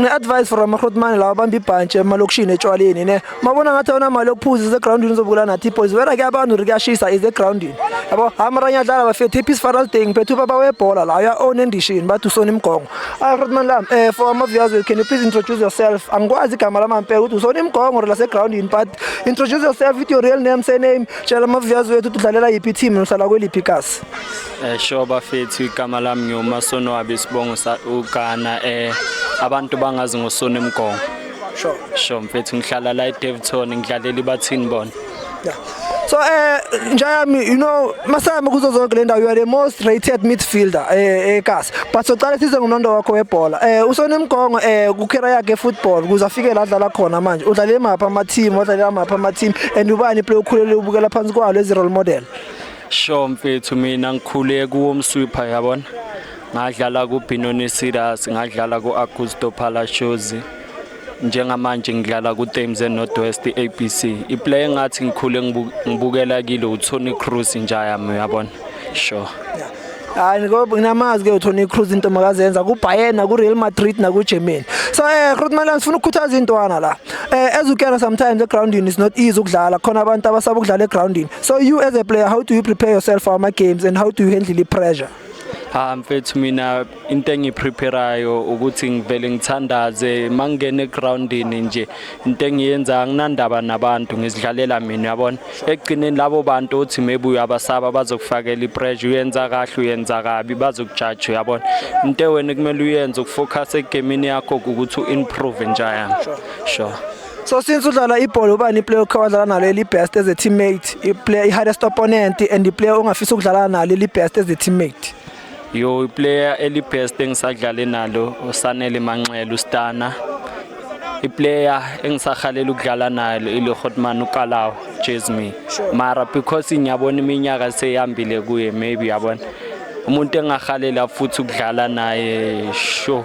ne-advice for amahrotmane lawa abamba ibhantshi emalokishini etshwaleni ne mabona ngathi awona mali yokuphuza isegroundini uzobukela nathi ipoys wena ke abantu ri kuyashisa isegroundini yabo hamaranya adlala bafethe ipeace faral day ngiphethe ubaba webhola la uya-own endishini bathi usona imigongo Hi Rodman Lam, uh, for Ama Viazwe, can you please introduce yourself? Angikwazi igama lama mpela ukuthi usona imgongo or lase ground yini but introduce yourself with your real name, surname, tshela Ama Viazwe ukuthi udlalela yiphi team uhlala kweliphi ikasi. Eh sure bafethu igama lami ngiwuMasonwabi sibongo sa uGhana eh abantu bangazi ngosona emgongo. Sure. Sure mfethu ngihlala la eDevton ngidlalela ibathini bona. Yeah. So eh njayami you know masayami kuzo zonke le ndawo you are the most rated midfielder eh eKasi. Eh, But soqala size ngonondo wakho webhola. Eh usone mgongo eh ku career yakhe football kuze afike la dlala khona manje. Udlale mapha ama team, udlale amapha ama team and ubani play ukhulele ubukela phansi kwalo ezi role model. Sho mfethu mina ngikhule kuwo mswipha yabona. Ngadlala ku Binoni Sidas, ngadlala ku Augusto Palacios. Njengamanje ngidlala kuThames eNorthwest ABC. Iplayer engathi ngikhule ngibukela kile uTony Cruz njayami uyabona. Sure. Yeah. hayi ngoba nginamazi ke uTony Cruz into makazenza kuBayern nakuReal Madrid nakuGermany so eh Groot Milan sifuna ukukhuthaza intwana la eh as you can sometimes the grounding is not easy ukudlala khona abantu abasaba ukudlala egroundini so you as a player how do you prepare yourself for ama games and how do you handle the pressure ha mfethu mina into engipreparayo ukuthi ngivele ngithandaze mangingena egroundini nje into engiyenza anginandaba nabantu ngizidlalela mina yabona ekugcineni labo bantu othi maybe uyabasaba bazokufakela ipressure uyenza kahle uyenza kabi bazokujaja yabona into wena kumele uyenze ukufocus egemini yakho ukuthi uimprove njayami sure So since udlala ibhola ubani iplayer okhe wadlala nalo eli best as a teammate, iplayer i hardest opponent and iplayer ongafisa ukudlala nalo eli best as a teammate. Yo iplayer eli best engisadlale nalo uSanele Manxele uStana. Iplayer engisahalela ukudlala nalo ile Hotman uKalawa Jasmine. Mara because ngiyabona iminyaka seyambile kuye maybe yabona. Umuntu engahalela futhi ukudlala naye sure.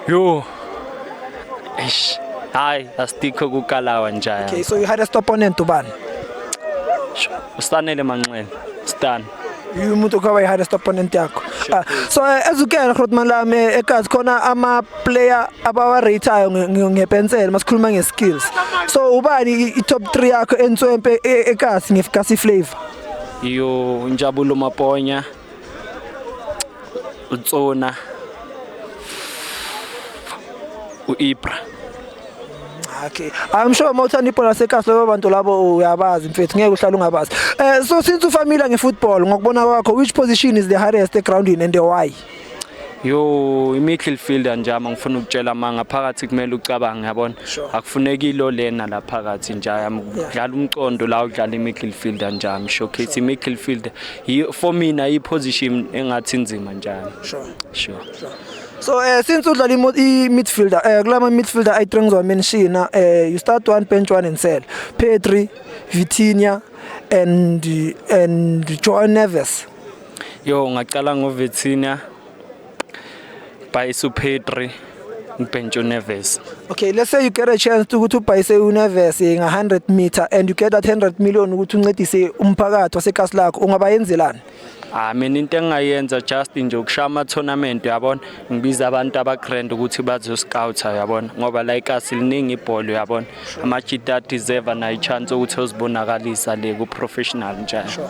Yo. Eish. Hayi, asikho kukalawa njaya. Okay, so you had a stop on and Duban. Ustanele Manxele. Stan. You umuntu kwabe had a stop on and yakho. Ah, so eh, as ukela Grootman lami eh, ekazi khona ama player abawa rateayo ngepensel masikhuluma nge skills. So ubani i top 3 yakho entswempe e, ekazi ngefkasi flavor. Yo Njabulo Maponya. utsona u-ibra okay i'm sure uma uthanda ibhola lasekhasi laba bantu labo uyabazi mfethu ngeke uhlale ungabazi eh so since ufamile ngefootball ngokubona kwakho which position is the hardest egroundini and why yo imiddle fielder nje ama ngifuna ukutshela amanga phakathi kumele ucabange yabona akufuneki lo lena la phakathi nje yami udlala umcondo la udlala imiddle fielder nje ami showcase imiddle fielder Yi- for mina iposition engathi inzima njalo Sure. sure So uh, since udlala imo- i-midfielder uh, kulama midfielder ayi-three ngizowamenshina uh, you start one bench one and sell Pedri, Vitinha and and Joao Neves. yo ngacala ngoVitinha Bhayisu Petri ngibhentshe uneves okay let's say you get a chance to ukuthi ubhayise uneves nga 100 meter and you get that 100 million ukuthi uncedise umphakathi wasekhasi lakho ungaba yenzelani Ah mina into engayenza just nje ukushaya ama tournament uyabona ngibiza abantu aba grand ukuthi bazo scout uyabona ngoba la ikasi liningi ibhola uyabona ama chita deserve na chance ukuthi ozibonakalisa le ku professional njalo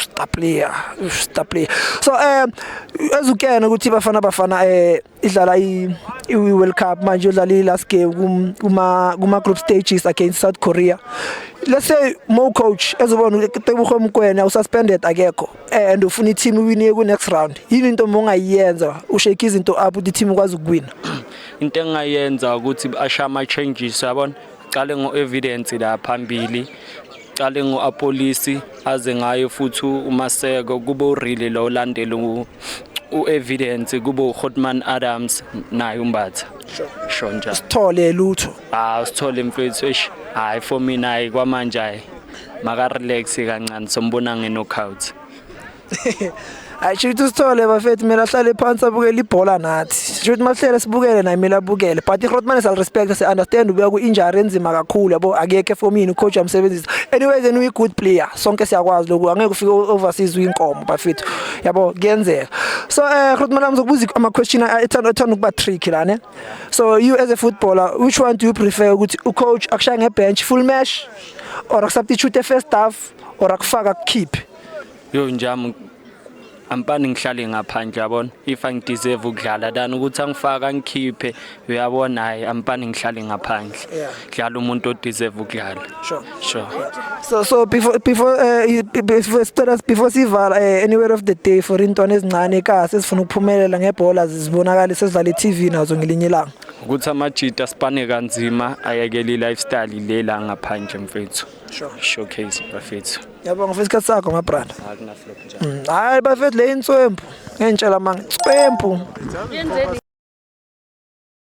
star player star player so um ezukene ukuthi bafana bafana eh idlala i World Cup manje udlala i last game kuma kuma group stages against South Korea let's say mo coach ezobona ukuthi Tebuho Mkwena ususpended akekho eh, and ufuna i-team iwine ku next round yini into mongayenza ushake izinto up ukuthi i-team ikwazi ukuwina into engayenza ukuthi asha ama changes yabona qale ngo evidence la phambili Cale ngo-Apolisi aze ngayo futhi uMaseko kube uRile lo olandela u-Evidence kube uHotman Adams naye uMbatha. Sho njalo. Sithole lutho. Ah sithole mfethu eish hayi for mina hayi kwamanje hayi maka relax kancane sombona nge knockout. hayi sho ukuthi usithole bafethu mina ahlale phansi abukele ibhola nathi sho ukuthi mahlele sibukele naye mina abukele but iRotman sal respect si understand ubuya ku injury enzima kakhulu yabo akekho efomini ucoach amsebenzisa anyways and we good player sonke siyakwazi lokho angeke ufike overseas uyinkomo bafethu yabo kuyenzeka so eh Rotman amzokubuza ama question ethanda ethanda ukuba trick la ne so you as a footballer which one do you prefer ukuthi ucoach akushaye ngebench full match or substitute first half or akufaka kukhiphe yo njami ampani ngihlale ngaphandle yabona if angideserve ukudlala than ukuthi angifaka ngikhiphe uyabona hayi ampani ngihlale ngaphandle Yeah. dlala umuntu odeserve ukudlala Sure. sure So so before before uh, you- be- before sicela before sivala uh, anywhere of the day for intwana ezincane ka sesifuna ukuphumelela ngebhola zibonakala sesidlala iTV nazo ngelinye ilanga. ukuthi amajita sipane kanzima ayekele i-lifestyle le la ngaphandle mfethu Sure. showcase bafethu Yabonga for isikhathi sakho my brother. akunaflop njalo Mm, Hayi bafethu le inswempu. Ngentshela manga. Inswempu.